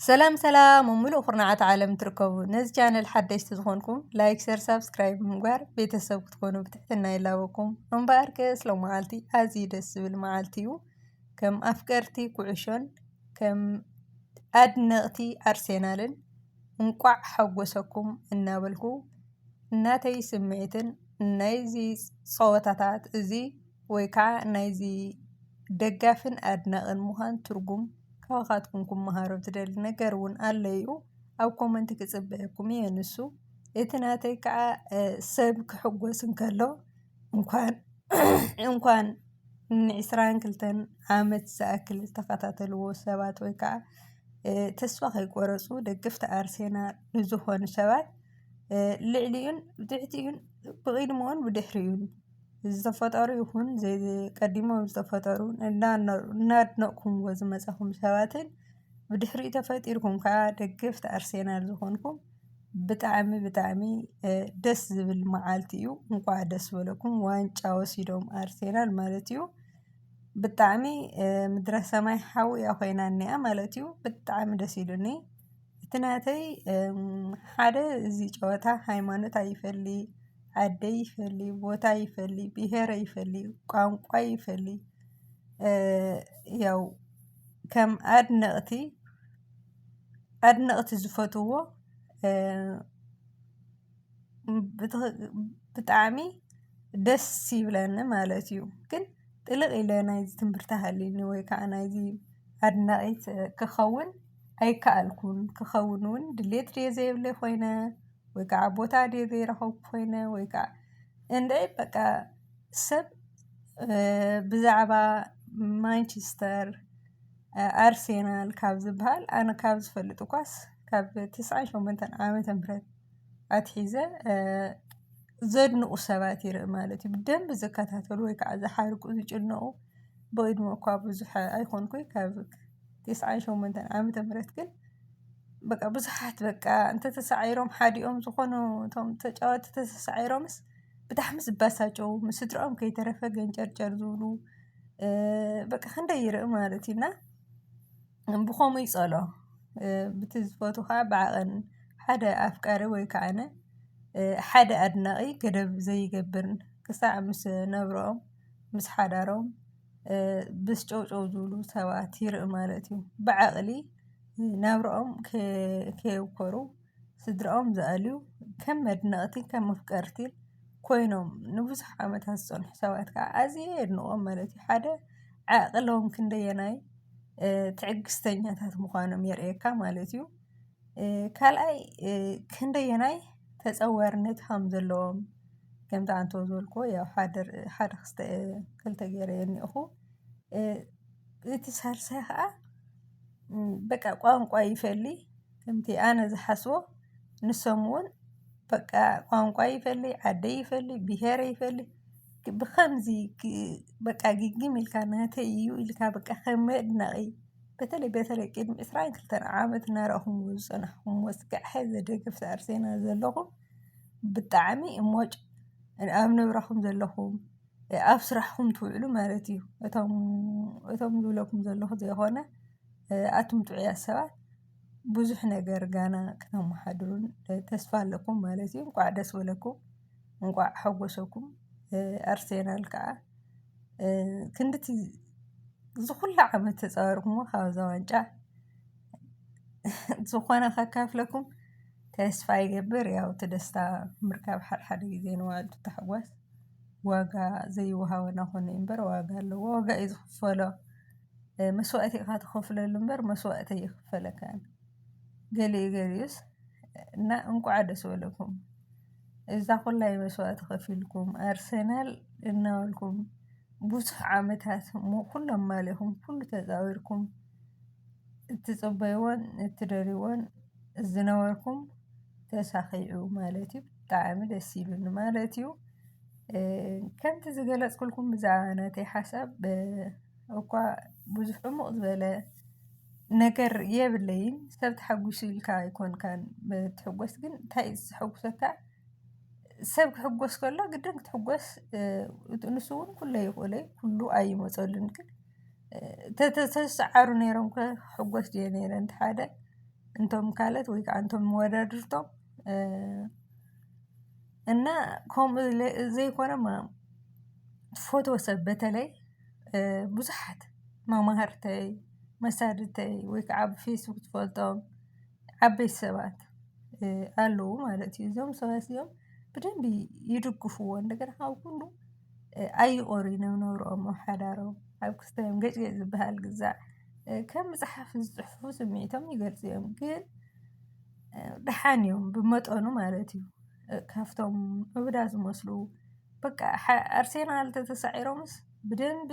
ሰላም ሰላም ኣብ ሙሉእ ኩርናዓት ዓለም ትርከቡ ነዚ ቻነል ሓደሽቲ ዝኾንኩም ላይክ ሸር ሳብስክራይብ ብምግባር ቤተሰብ ክትኮኑ ብትሕትና ይላበኩም እምበኣር ከስ ሎመዓልቲ ኣዝዩ ደስ ዝብል መዓልቲ እዩ ከም ኣፍቀርቲ ኩዕሾን ከም ኣድነቕቲ ኣርሴናልን እንቋዕ ሓጎሰኩም እናበልኩ እናተይ ስምዒትን ናይዚ ፀወታታት እዚ ወይ ከዓ ናይዚ ደጋፍን ኣድናቅን ምዃን ትርጉም ካባኻትኩም ክመሃሮ ዝደሊ ነገር እውን ኣሎ እዩ። ኣብ ኮመንቲ ክጽበየኩም እየ ንሱ እቲ ናተይ ከዓ ሰብ ክሕጎስ እንከሎ እንኳን እንኳን ንዕስራን ክልተን ዓመት ዝኣክል ዝተኸታተልዎ ሰባት ወይ ከዓ ተስፋ ከይቆረፁ ደገፍቲ ኣርሴናል ዝኾኑ ሰባት ልዕሊኡን ብትሕቲኡን ብቕድሙኡን ብድሕሪኡን ዝተፈጠሩ ይኹን ቀዲሞም ዝተፈጠሩ እናድነቕኩም ዝመፃኹም ሰባትን ብድሕሪኡ ተፈጢርኩም ከዓ ደገፍቲ ኣርሴናል ዝኾንኩም ብጣዕሚ ብጣዕሚ ደስ ዝብል መዓልቲ እዩ። እንኳዕ ደስ በለኩም ዋንጫ ወሲዶም ኣርሴናል ማለት እዩ። ብጣዕሚ ምድረ ሰማይ ሓዊ እያ ኮይና እኒኣ ማለት እዩ። ብጣዕሚ ደስ ኢሉኒ። እቲ ናተይ ሓደ እዚ ጨወታ ሃይማኖት ኣይፈሊ ዓዲ ኣይፈሊ ቦታ ኣይፈሊ ብሄር ኣይፈሊ ቋንቋ ኣይፈሊ ያው ከም ኣድነቅቲ ኣድነቅቲ ዝፈትዎ። ብጣዕሚ ደስ ይብለኒ ማለት እዩ። ግን ጥልቅ ኢለ ናይዚ ትምህርቲ ሃልዩኒ ወይ ከዓ ናይዚ ኣድናቂት ክኸውን ኣይከኣልኩን። ክኸውን እውን ድሌት ድየ ዘይብለይ ኮይነ ወይ ከዓ ቦታ ድየ ዘይረኸብኩ ኮይነ ወይ ከዓ እንድዒ በቃ ሰብ ብዛዕባ ማንችስተር ኣርሴናል ካብ ዝብሃል ኣነ ካብ ዝፈልጥ እኳስ ካብ ትስዓን ሸሞንተን ዓመተ ምህረት ኣትሒዘ ዘድንቑ ሰባት ይርኢ ማለት እዩ ብደንብ ዝከታተሉ ወይ ከዓ ዝሓርቁ ዝጭነቑ ብዕድመ እኳ ብዙሕ ኣይኮንኩይ ካብ ቴስዓን ሸሞንተን ዓመተ ምህረት ግን በቃ ብዙሓት በቃ እንተተሳዒሮም ሓዲኦም ዝኾኑ እቶም ተጫወቲ ተሳዒሮምስ ብጣዕሚ ዝባሳጨው ምስ ስድርኦም ከይተረፈ ገንጨርጨር ዝብሉ በቃ ክንደይ ይርኢ ማለት እዩ እና ብኸምኡ ይጸሎ ብቲ ዝፈትኻ ብዓቐን ሓደ ኣፍቃሪ ወይ ከዓነ ሓደ ኣድናቒ ገደብ ዘይገብርን ክሳዕ ምስ ነብሮኦም ምስ ሓዳሮም ምስ ጨውጨው ዝብሉ ሰባት ይርኢ ማለት እዩ ብዓቕሊ ናብርኦም ከየውኮሩ። ስድራኦም ዘኣልዩ ከም መድነቕቲ ከም መፍቀርቲ ኮይኖም ንብዙሕ ዓመታት ዝፀንሑ ሰባት ከዓ ኣዝየ የድንቖም ማለት እዩ። ሓደ ዓቕሎም ክንደየናይ ትዕግስተኛታት ምዃኖም የርእየካ ማለት እዩ። ካልኣይ ክንደየናይ ተፀዋርነት ከም ዘለዎም ከምቲ ኣንተ ዝበልክዎ ያው ሓደ ሓደ ክስተ ክልተ ገይረ የኒእኹ እቲ ሳልሳይ ከዓ በቃ ቋንቋ ይፈሊ ከምቲ ኣነ ዝሓስቦ ንሶም እውን በቃ ቋንቋ ይፈሊ ዓደይ ይፈሊ ብሄረ ይፈሊ ብከምዚ በቃ ግግም ኢልካ ናተይ እዩ ኢልካ በቃ ከም መድነቒ በተለይ በተለይ ቅድሚ ዕስራን ክልተን ዓመት እናረእኹምዎ ዝፀናሕኹምዎ እስካዕ ሐዚ ደገፍቲ ኣርሴናል ዘለኹም ብጣዕሚ እሞጭ ኣብ ንብረኹም ዘለኹም ኣብ ስራሕኹም ትውዕሉ ማለት እዩ። እቶም እቶም ዝብለኩም ዘለኹ ዘይኾነ ኣቱም ጥዑያት ሰባት ብዙሕ ነገር ጋና ክተማሓድሩን ተስፋ ኣለኩም ማለት እዩ። እንቋዕ ደስ በለኩም እንቋዕ ሓጎሰኩም። ኣርሴናል ከዓ ክንድቲ ዝኹሉ ዓመት ተፃዊርክሞ ካብዛ ዋንጫ ዝኾነ ከካፍለኩም ተስፋ ይገብር። ያው እቲ ደስታ ምርካብ ሓድሓደ ግዜ ነው በሃልቲ ታሕጓስ ዋጋ ዘይወሃቦ ናኾነ'ዩ እምበር ዋጋ ኣለዎ ዋጋ እዩ ዝኽፈሎ። መስዋእቲ ኢኻ ትኸፍለሉ እምበር መስዋእቲ ኣይኽፈለካን ገሊኡ ገሊኡስ እና እንቋዕ ደስ በለኩም እዛ ኹላይ መስዋእቲ ከፊልኩም ኣርሰናል እናበልኩም ብዙሕ ዓመታት ኩሎም ማልኹም ኩሉ ተፃዊርኩም እትፅበይዎን እትደልይዎን ዝነበርኩም ተሳኺዑ ማለት እዩ ብጣዕሚ ደስ ኢሉኒ ማለት እዩ። ከምቲ ዝገለጽኩልኩም ብዛዕባ ናተይ ሓሳብ እኳ ብዙሕ ዕሙቕ ዝበለ ነገር የብለይን ሰብ ተሓጒሱ ኢልካ ኣይኮንካን ትሕጐስ ግን እንታይ እዩ ዘሐጉሰካ ሰብ ክሕጐስ ከሎ ግድን ክትሕጐስ ንሱ እውን ኩሉ ኣይኽእሎ እዩ ኩሉ ኣይመፀሉን ግን ተተሰዓሩ ነይሮም ክሕጐስ ድየ ነይረ እንተ ሓደ እንቶም ካልኦት ወይ ከዓ እንቶም መወዳድርቶም እና ኮም ዘይኮነ ፎቶ ሰብ በተለይ ብዙሓት መማህርተይ መሳድተይ ወይ ከዓ ኣብ ፌስቡክ ትፈልጦም ዓበይቲ ሰባት ኣለዉ ማለት እዩ። እዞም ሰባት እዚኦም ብደንቢ ይድግፍዎ እንደገና ካብ ኩሉ ኣይቖርይ ናብ ነብርኦም ኣብ ሓዳሮም ኣብ ክስታዮም ገጭገጭ ዝበሃል ግዛ ከም መጽሓፍ ዝጽሕፉ ስምዒቶም ይገልጹ እዮም ግን ደሓን እዮም ብመጠኑ ማለት እዩ ካብቶም እብዳ ዝመስሉ በቃ ኣርሴናል ተተሳዒሮምስ ብደንቢ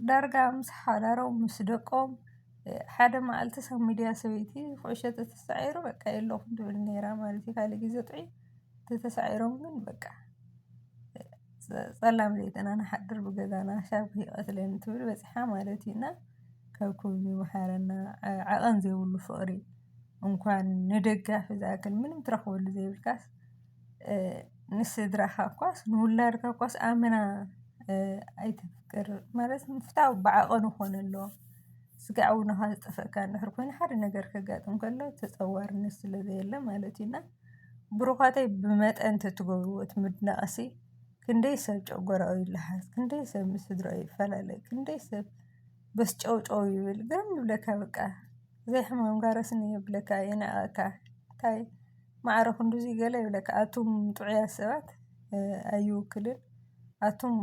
ዳርጋ ምስ ሓዳሮም ምስ ደቆም ሓደ መዓልቲ ሰብ ሚድያ ሰበይቲ ኩዕሾ ተተሳዒሩ በቃ የለኹም ትብል ኔራ ማለት እዩ ካልእ ግዜ ጥዑይ ተተሳዒሮም ግን በቃ ጸላም ለይትን ኣንሓድር ብገዛና ሻብኪ ይቐትለኒ ትብል በጺሓ ማለት እዩና ካብ ኩሉ ይምሓረና ዓቐን ዘይብሉ ፍቕሪ እንኳን ንደጋፊ ዝኣክል ምንም ትረኽበሉ ዘይብልካስ ንስድራኻ እኳስ ንውላድካ እኳስ ኣመና ኣይተፍቅር ማለት ፍትዊ ብዓቐኑ ክኾነ ኣለዎ ስጋዕ እውንኻ ዝጠፍአካ እንድሕር ኮይኑ ሓደ ነገር ከጋጥም ከሎ ተጸዋርነት ስለ ዘየለ ማለት እዩና። ብሩዃተይ ብመጠን ተትገብርዎ እቲ ምድናቕሲ ክንደይ ሰብ ጨጎራኡ ይለሃስ፣ ክንደይ ሰብ ምስ ስድራኡ ይፈላለ፣ ክንደይ ሰብ በስ ጨው ጨው ይብል፣ ግርም ይብለካ በቃ ዘይ ሕማም ጋርስ እንሄ ይብለካ የንዕቐካ፣ እንታይ ማዕረ ክንድዚ ገለ ይብለካ፣ ኣቱም ጥዑያት ሰባት ኣይውክልን፣ ኣቱም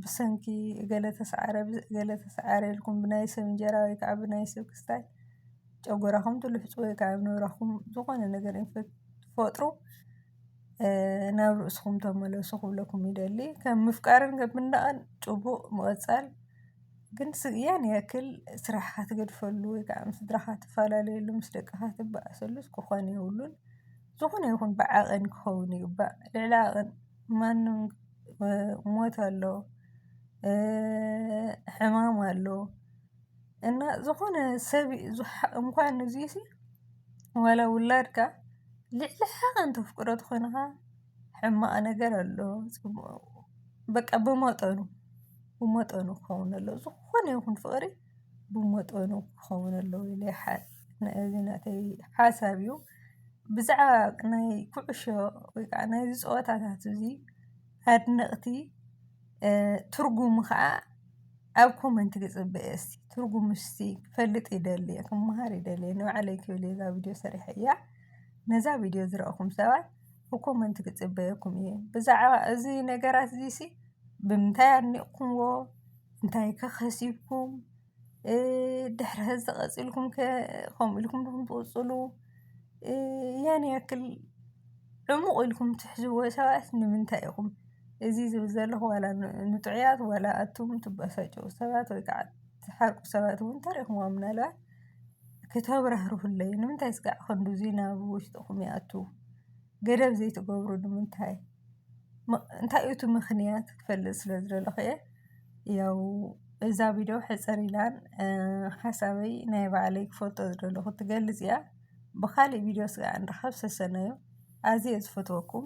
ብሰንኪ እገለ ተስዓረ፣ እገለ ተስዓረ ኢልኩም ብናይ ሰብ እንጀራ ወይ ከዓ ብናይ ሰብ ክስታይ፣ ጨጎራኹም ትልሕፁ ወይ ከዓ ኣብ ነብራኹም ዝኾነ ነገር እንትትፈጥሩ ናብ ርእስኹም ተመለሱ ክብለኩም ይደሊ። ከም ምፍቃርን ከም ምንዳቕን ጭቡቕ ምቕፃል ግን ስግያን ያክል ስራሕኻ ትገድፈሉ ወይ ከዓ ምስ ስድራኻ ትፈላለየሉ ምስ ደቅኻ ትበኣሰሉ ክኾን የብሉን። ዝኾነ ይኹን ብዓቐን ክኸውን ይግባእ ልዕሊ ዓቐን ማንም ሞት ኣሎ ሕማም ኣሎ። እና ዝኾነ ሰብ እንኳን እዙይ ሲ ዋላ ውላድካ ልዕሊ ሓቐን ተፍቅሮ ተኾይንኻ ሕማቕ ነገር ኣሎ በቃ ብመጠኑ ብመጠኑ ክኸውን ኣለዎ ዝኾነ ይኹን ፍቕሪ ብመጠኑ ክኸውን ኣለዎ ኢለ ይሓስብ እዚ ናተይ ሓሳብ እዩ ብዛዕባ ናይ ኩዕሾ ወይ ከዓ ናይዚ ፀወታታት እዙይ ኣድነቕቲ ትርጉሙ ኸዓ ኣብ ኮመንቲ ክፅበየ እስቲ ትርጉሙ እስቲ ክፈልጥ ይደሊ ክመሃር ይደሊ ንባዕለይ ክብል እየ እዛ ቪድዮ ሰሪሐ እያ ነዛ ቪድዮ ዝረእኹም ሰባት ብኮመንቲ ክፅበየኩም እየ ብዛዕባ እዚ ነገራት እዚ ሲ ብምንታይ ኣድኒቕኩምዎ እንታይ ከ ከሲብኩም ድሕሪ ሕዚ ቐጺልኩም ከ ከምኡ ኢልኩም ዲኹም ትቕጽሉ ያን ያክል ዕሙቕ ኢልኩም ትሕዝዎ ሰባት ንምንታይ ኢኹም እዚ ዝብል ዘለኹ ዋላ ንጥዑያት ዋላ ኣቱም ትበሳጨዉ ሰባት ወይ ከዓ ትሓርቁ ሰባት ዉን ተሪኽምዎም ምናልባት ክተብራህርሁለይ ንምንታይ እስካዕ ክንድዚ ናብ ዉሽጥኹም ይኣቱ? ገደብ ዘይትገብሩሉ ንምንታይ? እንታይ እዩ እቲ ምኽንያት ክፈልጥ ስለ ዝደለኹ እየ። ያው እዛ ቪድዮ ሕጽር ኢላን ሓሳበይ ናይ ባዕለይ ክፈልጦ ዝደለኹ ትገልጽ እያ። ብኻልእ ቪድዮ ስከ ንራኸብ ሰሰናዩ ኣዝየ ዝፈትወኩም።